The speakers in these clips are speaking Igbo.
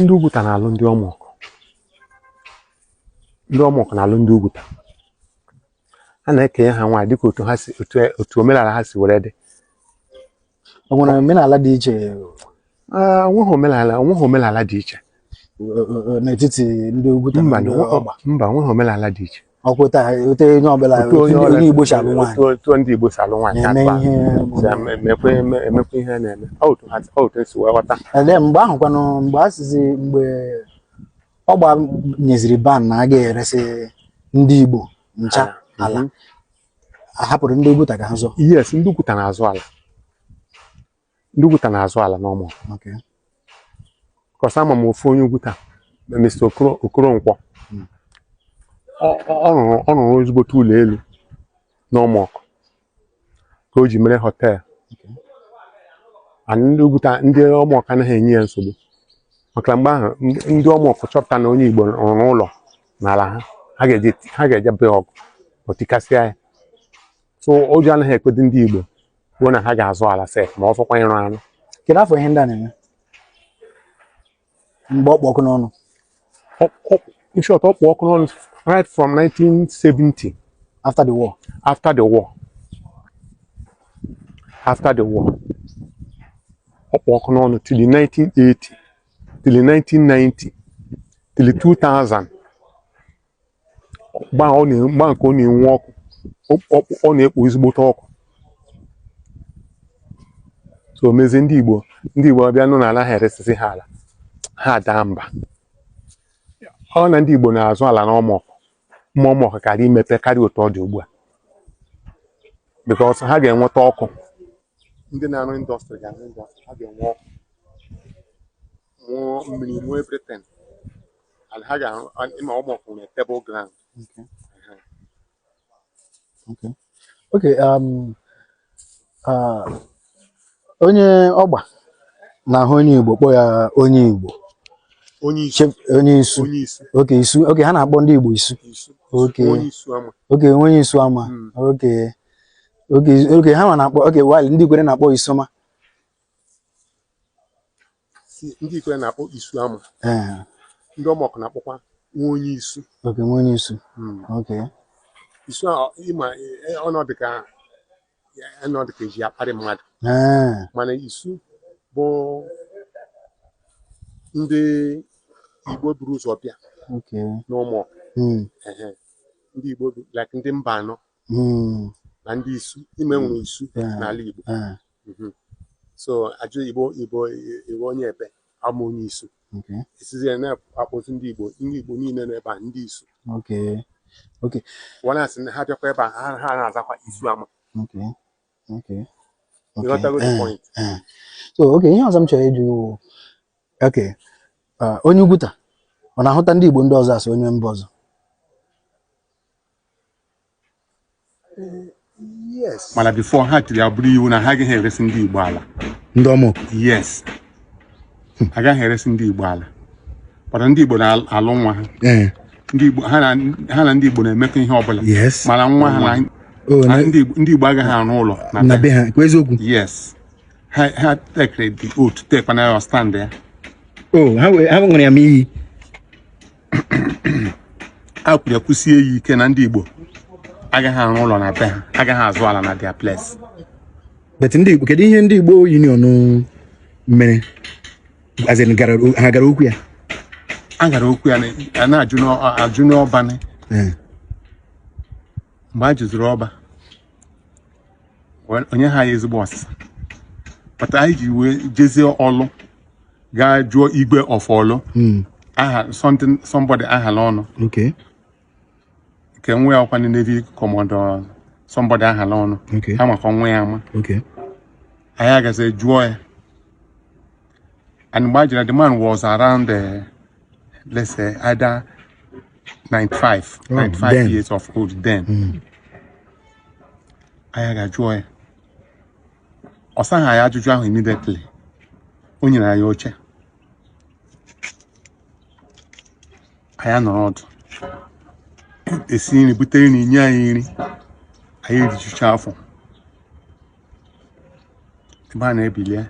ndị Ugwuta na-alụ ndị Ọmọkụ ndị Ọmọkụ na-alụ ndị Ugwuta a na-ekenye ha nwaanyị dịka otu ha si otu otu omenala ha si were dị o nwere omenala dị iche Ah, o nweghị omenala o nweghị omenala dị iche eh, eh, n'etiti ndị Ugwuta na mba ndị na- Ọgba mba o nweghị omenala dị iche Ugwuta otu onye ọbụla Otu onye ọla- onye Igbo si alụ nwaanyị otu- otu ndị Igbo si alụ nwaanyị na-eme akpa ihe si eme- emekwa eme- emekwa ihe na-eme Ọ otu ha- ọ otu e si wee ghọta ele mgbe ahụ kwanụ mgbe a sịzi mgbe Ọgba nyeziri ban na a ga-eresị ndị Igbo ncha Ala. ala Mhm. a hapụrụ ndị Oguta ka ha zụọ yes ndị Ugwuta na-azụ ala ndị Ugwuta na-azụ ala n'Ọmọkụ 'cause ama m ofu onye Ugwuta na Mr. Okoro- Okoronkwọ Mm. Ọ- ọ ọ rụrụ ọ rụrụ ezigbote ụlọ elu n'Ọmọkụ ka o ji mere hotel Okay. and ndị Ugwuta ndị Ọmọkụ anaghị enye ya nsogbu maka na mgbe ahụ ndị- ndị Ọmọkụ chọpụta na onye Igbo rụrụ ụlọ n'ala ha ha ga-eje ha ga-eje be ọgụ o tikasịa ya so ụjọ anaghị ekwedị ndị Igbo kwuo na ha ga-azụ ala sef ma ọ fọkwa ịrụ arụ kedu afọ ihe ndị a na-eme mgbe ọ kpụ ọkụ n'ọnụ in short ọ kpụ ọkụ n'ọnụ right from 1970 after the war after the war after the war ọ kpụ ọkụ n'ọnụ till 1980 till 1990 till 2000 mgbe ahụ ọ na- mgbe ahụ ka ọ na-enwu ọkụ ọ ọ- ọ na-ekpo ezigbote ọkụ so mezie ndị igbo ndị igbo abịa nụ na anaghị eresizi ha ala ha daa mba ọ na ndị igbo na-azụ ala n'Ọmọkụ ma Ọmọkụ kaara imepe karịa otu ọ dị ugbu a because ha ga-enweta ọkụ ndị na-arụ industry ga-arụ industry ha ga-enwe ọkụ nwee mmiri nwee everything and ha ga-arụ and ị ma Ọmọkụ na table ground Okay. Okay. Okay. Um, uh, onye Ọgba na-ahụ onye Igbo kpọọ ya onye Igbo onye isu Chep- onye isu onye isu okay isu okay ha na-akpọ ndị Igbo isu isu okay onye isu ama okay onye isu ama Mm. okay okay okay ha ma na-akpọ okay while ndị Ikwerre na-akpọ isoma ndị Ikwerre na-akpọ isu ama eh. ndị Ọmọkụ na-akpọkwa nwa onye isu okay nwa onye isu hmm. okay isu ị ma e, e, ọ na-adị ka ọ na-adị ka e ji akparị mmadụ eh. mana isu bụ ndị igbo buru ụzọ bịa n'Ọmọkụ hmm. ndị igbo like ndị Mbanọ hmm. na ndị isu ị ma e nwere isu n'ala igbo eh. Mhm. so a jụọ ị bụ ị bụ ị wụ onye ebe awụ m onye Isu Okay. e sizie na-akpọzi ndị Igbo ndị Igbo niile nọ ebe a ndị Isu Okay. Okay. wọ na-asị na ha bịakwa ebe a ha ha na-azakwa Isuama Okay. Okay. Okay. ị ghọtago the Eh, point eh. So, okay, ihe ọzọ m chọrọ ịjụ gị wụ. Okay. ah, onye Ugwuta, ọ na-ahụta ndị Igbo ndị ọzọ as onye mba ọzọ? yes mana before ha tiri ya bụrụ iwu na ha agaghị eresi ndị Igbo ala ndị Omoku yes agaghị eresi ndị Igbo ala but ndị Igbo na-alụ nwa ha ee ndị Igbo ha na ha na ndị Igbo na-emekọ ihe ọbụla Yes. mana nwa ha na o na na ndị Igbo- ndị Igbo agaghị arụ ụlọ na na be ha kwa eziokwu yes ha ha tekere the oath tekwana ya stand ya o ha wee- ha ṅụrụ ya ma iyi ha kwuru ya kwusie ya ike na ndị Igbo agaghị arụ ụlọ na be ha agaghị azụ ala na their place but ndị Igbo kedu ihe ndị Igbo union mere ha gara okwu ya a gara okwu ya a na-ajụnụ Ọba mgbe a jụziri Ọba o nyeghị anyị ezigbo ọsịsa kpata anyị ji wee jezie Orlu gaa jụọ Igwe of Orlu hmm. aha something somebody Acholonu nke nwa ya wụkwanụ Navy Commodore somebody Acholonu a makwa nwa ya ama anyị agazi jụọ ya And mgbe anyị jere the man was around, uh, let's say, either 95, oh, 95 then. years of old then. Mm. anyị agaa jụọ ya ọ saghị anyị ajụjụ ahụ immediately o nyere anyị oche anyị nọrọ ọdụ esie nri bute nri nye anyị nri anyị erijucha afọ ebe a na-ebilie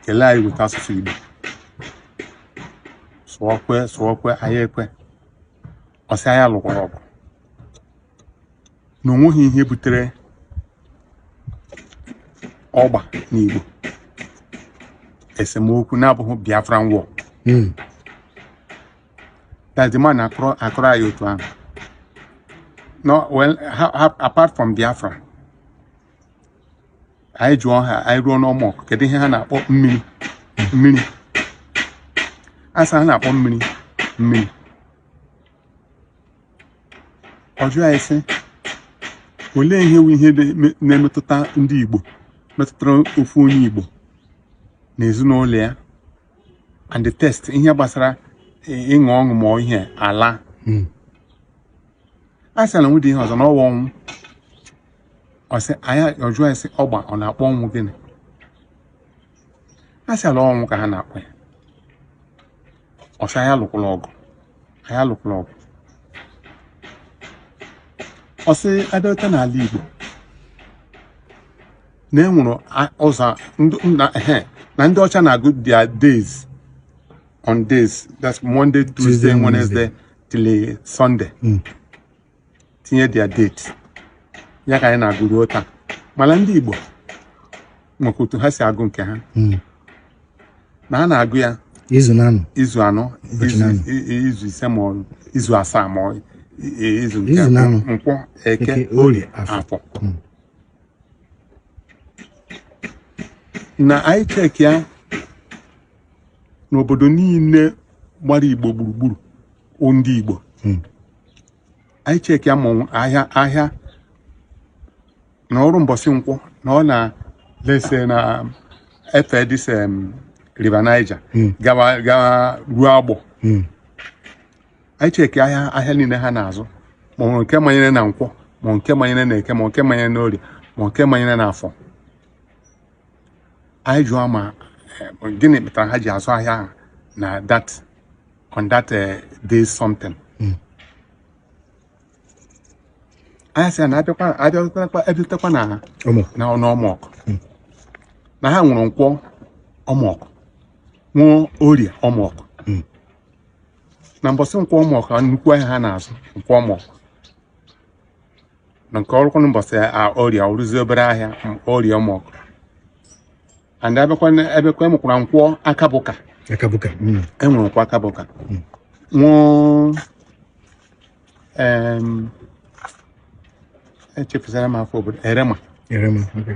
kelee anyị weta asụsụ Igbo sị Igbo kwe sị Igbo kwe anyị ekwe ọ sị anyị alụkwara ọgụ na o nweghị ihe butere Ọgba na Igbo esemokwu na-abụghị Biafran War that the man akọrọ akọrọ anyị otu ahụ no well ha- ha- apart from Biafra anyị jụọ ha anyị ruo n'Omoku kedu ihe ha na-akpọ mmiri mmiri a sị ha na-akpọ mmiri mmiri ọ jụọ anyị sị olee ihe wụ ihe na-eme- na-emetụta ndị Igbo metụtara ofu onye Igbo na ezinụlọ ya and the test ihe gbasara ịṅụ ọṅụ ma ihe ala hmm. a sị na nwede ihe ọzọ na ọwa ọnwụ ọ sị anyị ajụọ ya sị Ọgba ọ na-akpọ ọnwụ gịnị a sị ala ọnwụ ka ha na-akpọ ya ọ sị anyị alụkwala ọgụ anyị alụkwala ọgụ ọ sị abịarute n'ala Igbo na enwere ụzọ na ndị ọcha na-agụ their days on days that's Monday Tuesday Wednesday till Sunday hmm. tinye their date ya ka anyị na-agụ ruo taa mana ndị Igbo nwekwa otu ha si agụ nke ha hmm. na a na-agụ ya izu anọ izu anọ izu ise ma izu asaa ma izu nke nkwọ eke orie afọ hmm. na anyị cheki ya n'obodo niile gbara igbo gburugburu o ndị igbo Hmm. anyị cheki ya ma ọ- ahịa ahịa na ọrụ mbọsị nkwọ na unless na efee this em, River Niger Hmm. gawa gawa ruo Agbọ Hmm. anyị cheki ahịa ahịa niile ha na-azụ ma ọ nke manyere na nkwọ ma nke manyere na eke ma nke manyere na orie ma nke manyere na afọ anyị jụọ ma eh, gịnị kpatara ha ji azụ ahịa ahụ na that on that eh, day something hmm. anyị sị na abịakwa abịatekwa na ọmọkụ hmm. na ha nwere nkwọ ọmọkụ nwee orie ọmọkụ na mbọsị nkwọ ọmọkụ nnukwu ahịa ha na-azụ nkwọ ọmọkụ na nke o rukwa na mbọsị orie ọ rụzi obere ahịa m- orie ọmọkụ and abịakwa na- abịakwa e nwekwara nkwọ akabụka akabuka mm. enwere nkwọ akabụka nwee em, echefusara m afọ obodo erema erema okay.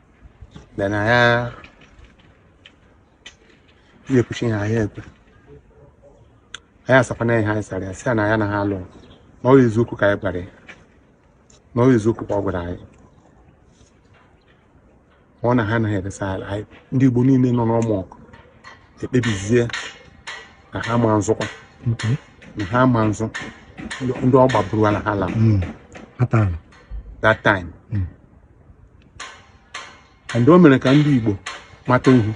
then na ya ekwuchaa ihe ha na-ekwu anyị asakwana ihe anyị sara ya sị ya na ya na ha alụ na ọ eziokwu ka anyị gwara ya na ọ eziokwu ka ọ gwara anyị ọ na ha anaghị eresa ala anyị ndị Igbo niile nọ n'ọmọkụ ekpebizie na ha ma nzụkwa na ha ma nzụ ndị Ọgba buru ala ha la hmm. that time hmm. and o mere ka ndị Igbo mata ihu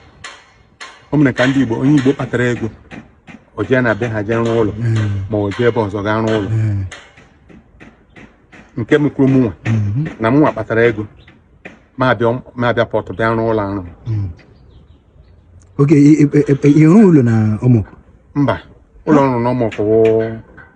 o mere ka ndị Igbo onye Igbo kpatara ego o jee na be ha jee rụọ ụlọ ma o jee ebe ọzọ gaa rụọ ụlọ nke mekwuru mụnwa na mụnwa kpatara ego ma abịa Pọtụ bịa rụọ ụlọ arụ ịrụ ụlọ na Omoku mba ụlọ ọrụ na Omoku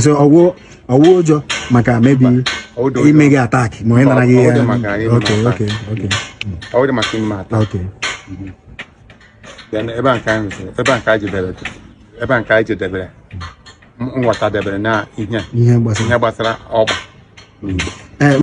so ọ wụ ụjọ maka maybe ime gị attack ma onye nara gị ya ọ wụdị maka ime attack ebe a nke anyị jedebere nghọta debere na ihe gbasara ọgba